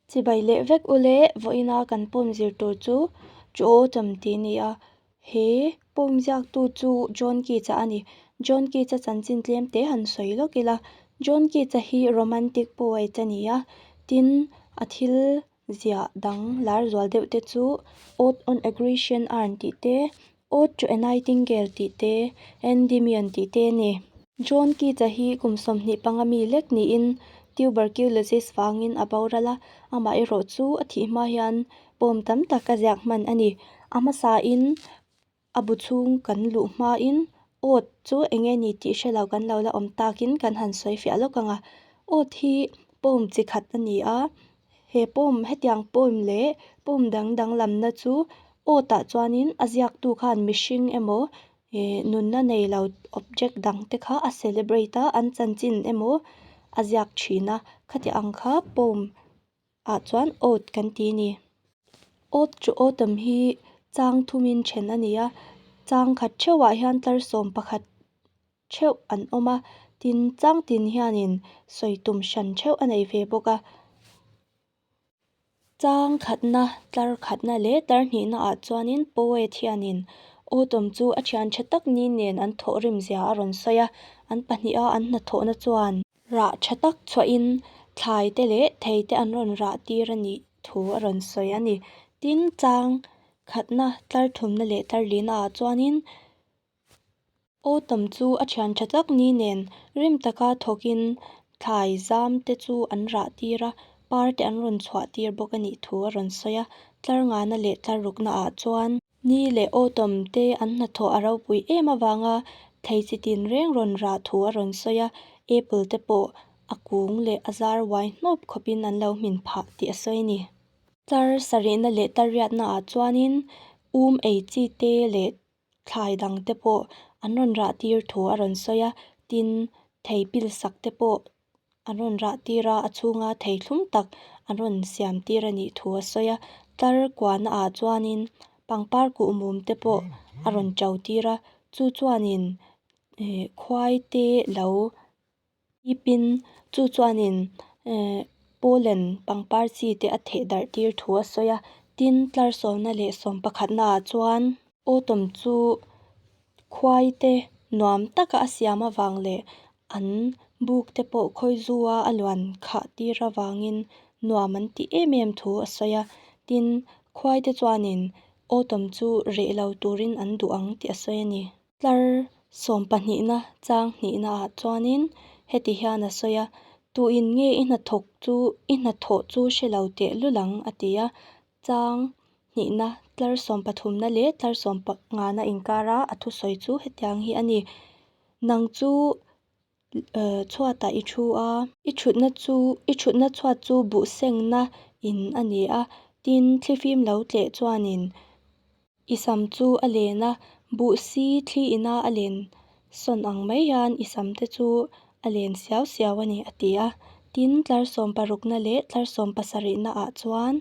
Chibai leh vek ule vawiina kan pawm zir tur chu chu aw chawm ti nia. He pawm ziak tu chu John Keats a ani. John Keats a chanchin tlem te han sawi lawk ila. John Keats a hi romantic poet a ni a, tin a thil ziah dang lar zual deuh te chu odd on aggression a han tih te, Ode to a Nightingale tih te, Endymion tih te a ni. John Keats a hi kum sawmhnih panga mi lek niin tuberculosis vangin a boral a, amah erawh chu a thih hma hian pawm tam tak a ziak hman a ni. A hmasa in a bu chhung kan luh hma in Ode chu eng nge ni tih hre lo kan lo la awm takin kan han sawi fiah lawk ang a. Ode hi poem chi khat a ni a, He poem, hetiang poem leh poem dang dang lamna chu awtah chuanin a ziaktu khan mihring emaw eh nunna nei lo object dang te kha a celebrate a, an chanchin emaw a ziak thin a. Khatiang ang kha poem ah chuan ode kan ti a ni. Ode chu autumn hi chang thumin then a ni a, chang khat theuhah hian tlar sawm pakhat theuh an awm a, tin chang tin hianin sawi tum hran theuh a nei ve bawk a. Chang khatna, tlar khatna leh tarhnihna ah chuanin poet hianin Autumn chu a thian tha tak ni nen an thawh rim zia a rawn sawi a, an pahnih a an hnathawhna chuan. Rah tha tak chhuahin thlai te leh thei te an rawn rah tir a nih thu a rawn sawi a ni. Tin chang khatna, tlar thumna leh tlar lihna ah chuanin Aw tam chu a thian tha tak ni nen, rim taka thawkin thlai zam te chu an rah tir a, par te an rawn chhuah tir bawk a nih thu a rawn sawi a. Tlar ngana leh tlar rukna ah chuan. Ni leh aw tam te an hnathawh a ropui em avanga thei chi tin reng rawn rah thu a rawn sawi a. Apple te pawh a kung leh a zar uai hnawp khawpin an lo hmin phah tih a sawi a ni. Tlar sarihna leh tlar riatna ah chuanin um ei chi te leh thlai dang te pawh an rawn rah tir thu a rawn sawi a tin thei pilsak te pawh an rawn rah tir a a chhung a thei thlum tak an rawn siam tir a nih thu a sawi a tlar kuahna ah chuan in pangpar kuh mum te pawh a rawn to tir a chu chuan in ihh khuai te lo-- Tipin, chu chuanin Poland pangpar chi te a theh darh tir thu a sawi a, tin tlarsawmna leh sawm pakhatna ah chuan, Autumn chu khuai te nuam taka a siam avang leh an buk te pawh khawi zu a a luan khah tir avangin nuam an tih em em thu a sawi a, tin khuai te chuanin Autumn chu reh lo turin an duh ang tih a sawi a ni. Tlar sawm pahnihna chang hnihna ah chuanin heti hian a sawi a, Tuin nge i hnathawk chu i hnathawh chu hre lo teh lul ang a ti a, chang hnihna tlar sawm pathumna leh tlar sawm nghana inkara a thusawi chu hetiang hi a ni, Nang chu chhuatah i thu a. I thutna chu, i thutna chhuat chu buh sengna in a ni a, tin thli fim lo tleh chuanin i sam chu a len a. Buh si thli ina a len sawn ang mai hian i sam te chu a len siau siau a ni, a ti a. Tin tlarsawm parukna leh tlarsawm pasarihna ah chuan.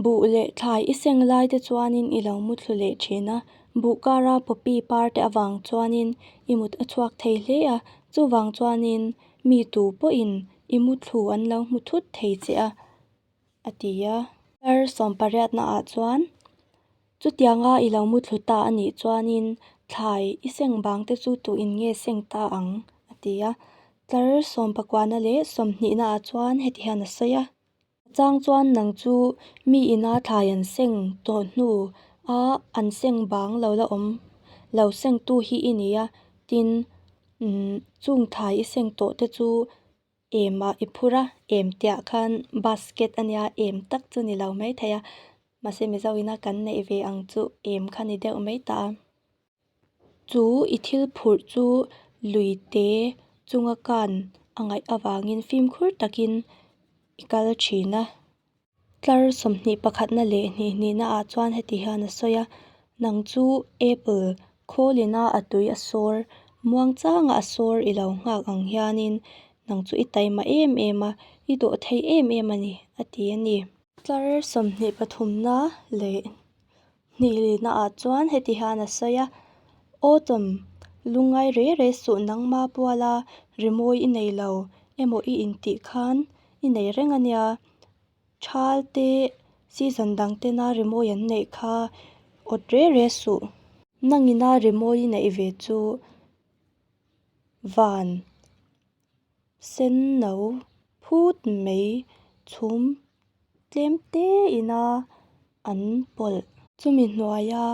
Buh leh thlai i seng lai te chuanin i lo muthlu leh thin a. Buh kara popi par te avang chuanin i mut a chhuak thei hle a. Chuvang chuanin mi tu pawhin i muthlu an lo hmu thut thei che a, a ti a. Thar sawm pariatna ah chuan chutiang a i lo muthlu ta a nih chuanin thlai i seng vang te chu tu in nge seng ta ang, a ti a. Thar sawm pakua na leh sawmhnih na ah chuan heti hian a sawi a. Chang chuan nang chu mi ina thlai an seng tawh hnu a an seng bang lo la awm lo seng tu hi i ni a tin umm chung thlai i seng tawh te chu em ah i phur a em teh ah khan basket a nia em tak chu ni lo mai thei a mahse mizo ina kan neih ve ang chu em kha ni deuh mai ta a. Chu i thil phurh chu lui te chunga kan a ngaih avangin fimkhur takin i kal thin a. Tlar sawmhnih pakhatna leh hnihnihna ah chuan heti hian a sawi a, Nang chu apple khawlin a a tui a sawr muang chang a, a sawr i lo nghak ang hianin nang chu i taima em em a, i dawh thei em em a ni, a ti a ni. Tlar sawmhnih pathumna leh Hnihlihna ah chuan heti hian a sawi a, Autumn, lungngai re re suh nang ma pual a, rimawi i nei lo emaw i intih khan i nei reng a nia. Chal te, season dang tena rimawi an neih kha awt re re suh. Nangina rimawi i neih ve chu van. Senno phut mai chhum tlem te ina an pawlh. Chumi hnuaia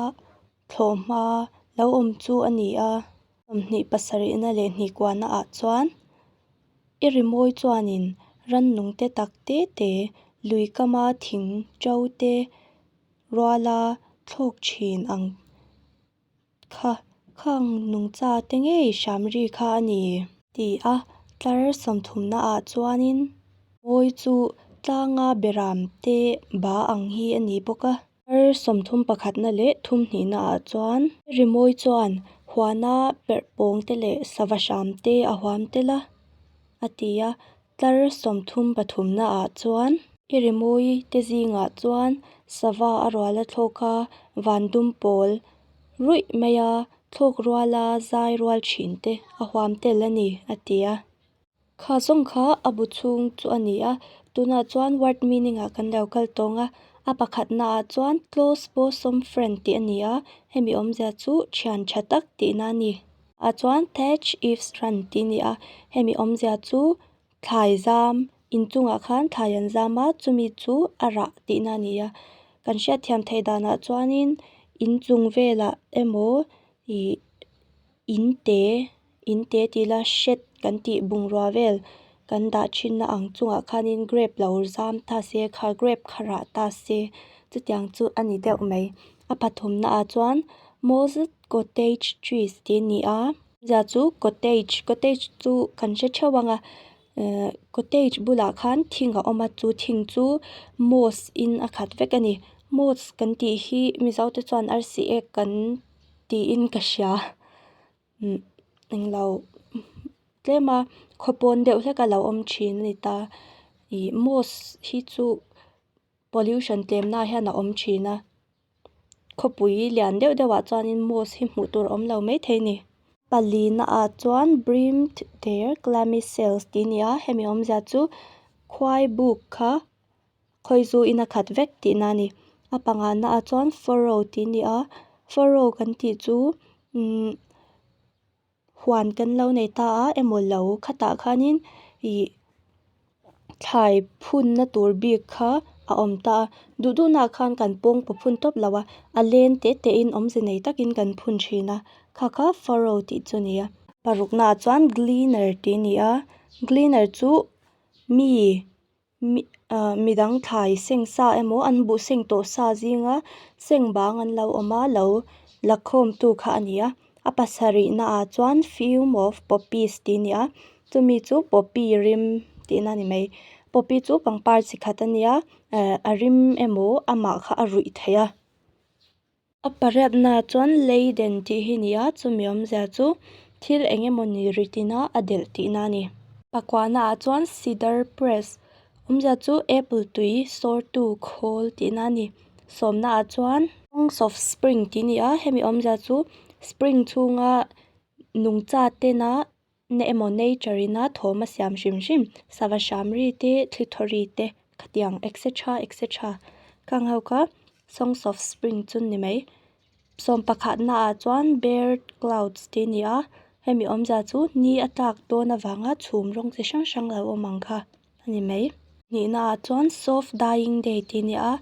thlawh hma lo awm chu a ni a. Sawmhnih pasarihna leh hnikuahna ah chuan i rimawi chuanin rannung te tak te te, lui kama thing to te ruala thlawk thin ang. Kha, khang nungcha te ngei Shamri kha a ni. Ti a, tlar sawmthumna ah chuan in. Mawi chu tlanga beram te ba ang hi a ni bawk a. Tlar sawmthum pakhatna leh thumhnihna ah chuan. Rimawi chuan huana perh pawng te leh sava hram te a huam tel a, a ti a. Tlar sawmthum pathumna ah chuan. I rimawi te zing ah chuan sava a rual a thlawk a, van dum pawl ruih mai a thlawk rual a zai rual thin te a huam tel a ni, a ti a. Kha zawng kha a bu chhung chu a ni a, tunah chuan word meaning ah kan lo kal tawng a, a pakhat na ah chuan close bawsawm friend tih a ni a, hemi awmzia chu thiantha tak tihna a ni. A chuan Thatch Eve Strand tih ni a, hemi awmzia chu thlai zam, inchungah khan thlai an zam a, chumi chu a rah tihna a ni a. Kan hriatthiam theih danah chuanin inchung velah emaw ih in te, in te tih ila shed kan tih bungrua vel kan dah thinna ang chungah khanin grape lo zam ta se kha, grape kha rah ta se chutiang chu a ni deuh mai. A pathumnaah chuan maw zat-- Cottage cheese tih a ni a zah chu cottage cottage chu kan hre theuh ang a ehh cottage bulah khan thing a awm a chu thing chu moss in a khat vek a ni moss kan tih hi mizo te chuan arsi ek kan tiin ka hria umm englo tlem a khaw pawn deuh hlek a lo awm thin a ni ta ih moss hi chu pollution tlem nahah hian a awm thin a. khawpui lian deuh deuh ah chuan in moss hi hmuh tur awm lo mai thei a ni pali na ah chuan brim thuther clamicales tih a ni a hemi awm zia chu khuai buk kha khawi zu in a khat vek tih na a ni a panga na ah chuan farrow tih a ni a farrow kan tih chu imm-- huan kan lo nei ta a emaw lo khatah khanin ih thlai phunna tur bik kha a awm ta a duh duh naah khan kan pawngpua phun tawp lo a a len teh teh in awmze nei takin kan phun thin a kha kha faro tih chu a ni a paruk naah chuan cleaner tih a ni a cleaner chu mi-- mi ah midang thlai seng sa emaw an buh seng tawh sa zinga seng bang an lo awm a lo la khawm tu kha a ni a a pasarih na ah chuan fume of poppies tih a ni a chumi chu poppy rim tih na ni mai poppy chu pangpar chi khat a nia eh a rim emaw amah kha a ruih theih a. A pariatna chuan lei den tih hi ni a, chumi awmzia chu thil eng emaw ni rit ina a delh tihna a ni. Pakuahna ah chuan Cedar Press awmzia chu Apple tui sawrtu khawl tihna a ni. Sawmna ah chuan Songs of Spring tih ni a, hemi awmzia chu Spring chhunga nungcha tena na emaw nature ina thawm a siam hrim hrim sava shamri te thlithawri te khatiang etc etc ka ang ho ka songs of spring chu ni mai sawm pakhat na ah chuan bare clouds tih a ni a hemi awmzia chu ni a tlak dawn avanga chhum rawng chi hrang hrang lo awm ang kha a ni mai nihna ah chuan soft dying day tih a ni a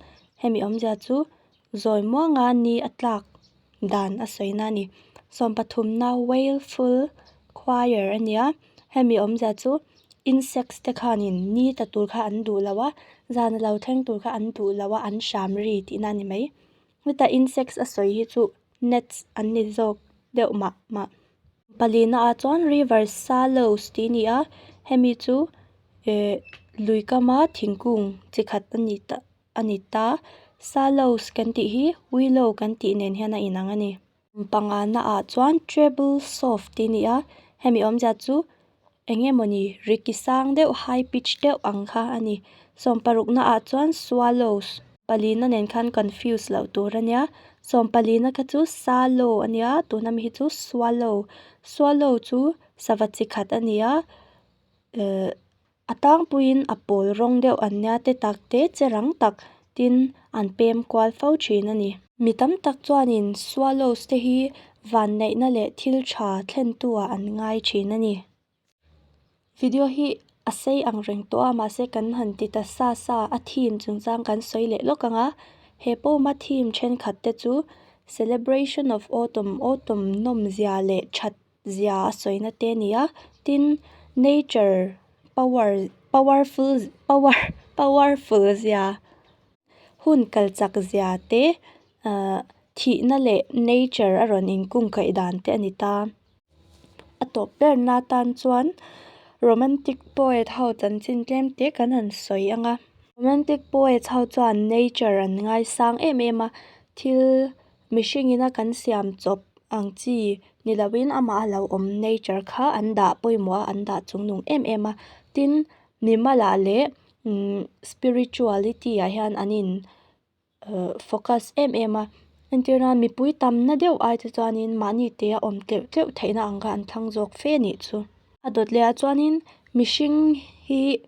hemi awmzia chu-- Zawi muanga ni a tlak dan a sawi na a ni. Sawm pathumna wailful choir a nia. Hemi awmzia chu insects te khanin ni ta tur kha an duh lo a, zan alo thleng tur kha an duh lo a, an hram ri tih na a ni mai. Heta insects a sawi hi chu nets an ni zawk deuh mah mah. Pali naah chuan river saloes tih a ni a, hemi chu eh lui kama thingkung chi khat a ni ta-- a ni ta. Salows kan tih hi willow kan tih nen hian a inang a ni. Kum pangana ah chuan treble soft tih ni a, hemi awm zia chu eng nge mawni ri ki sang deuh high pitch deuh ang kha a ni. Sawm paruk na ah chuan swallows pali na nen khan confuse loh tur a nia. Sawm pali na kha chu salo a nia tuna mi hi chu swallow. Swallow chu sava chi khat a ni a. Ehh. A tangpuiin a pawl rawng deuh an nia te tak te che rang tak tin an pem kual fo thin a ni. Mi tam tak chuanin Swallows te hi vanneihna leh thil tha thlentuah an ngai thin a ni. Video hi a sei ang reng tawh a, mahse kan han ti ta sa sa a theme chungchang kan sawi leh lawk ang a. He poem-a theme thenkhat te chu Celebration of Autumn, Autumn nawmzia leh that zia a sawina te a ni a tin nature power powerful power powerful zia hun kalchak zia te ahh thihna leh nature a rawn in kung kaih dan te a ni ta a tawp ber na tan chuan romantic poet ho chanchin tlem te kan han sawi ang a romantic poets ho chuan nature an ngaisang em em a thil-- Mihringin a kan siam chawp ang chi ni loin amah a lo awm nature kha an dah pawimawh a an dah chung nung em em a tin mimalah leh imm spirituality ah hian an in uh focus em em a entirna mipui tam na deuh ai te chuanin mahni te a awm tleuh tleuh theihna ang kha an thlang zawk fe a nih chu a dawt leh ah chuanin mihring hi--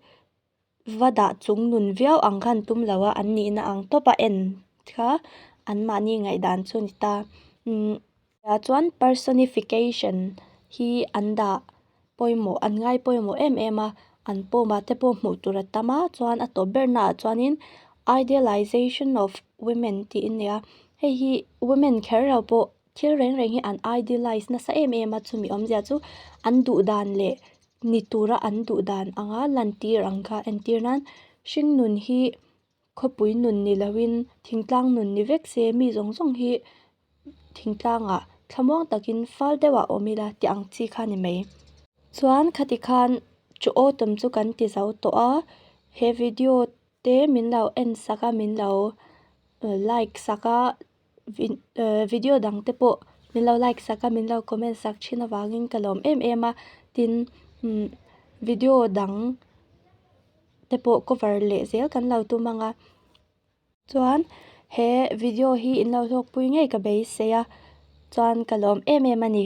va dah chung nun viau ang khan tum lo a, an nihna ang tawp a en kha anmahni ngaihdan chu a ni ta. Tunah chuan personification hi an dah pawimawh, an ngai pawimawh em em a, an pawma te pawh hmuh tur a tam a, chuan a tawp ber naah chuanin idealisation of women tiin a ni a, hei hi women kher lo pawh Thil reng reng hi an idealize nasa em em a chumi awmzia chu an duh dan leh ni tura an duh dan anga lantir ang kha entir nan hringnun hi khawpui nun ni loin thingtlang nun ni vek se mi zawng zawng hi thingtlangah thlamuang takin fal deuha awm ila tih ang chi kha a ni mai. Chuan khati khan chu aw tum chu kan ti zo tawh a he video te min lo en sak a min lo like sak a. video dang te pawh min lo like sak a min lo comment sak thin avangin ka lawm em em a tin imm video dang te pawh cover leh zel kan lo tum ang a chuan he video hi in lo hlawkpui ngei ka beisei a chuan ka lawm em em a ni.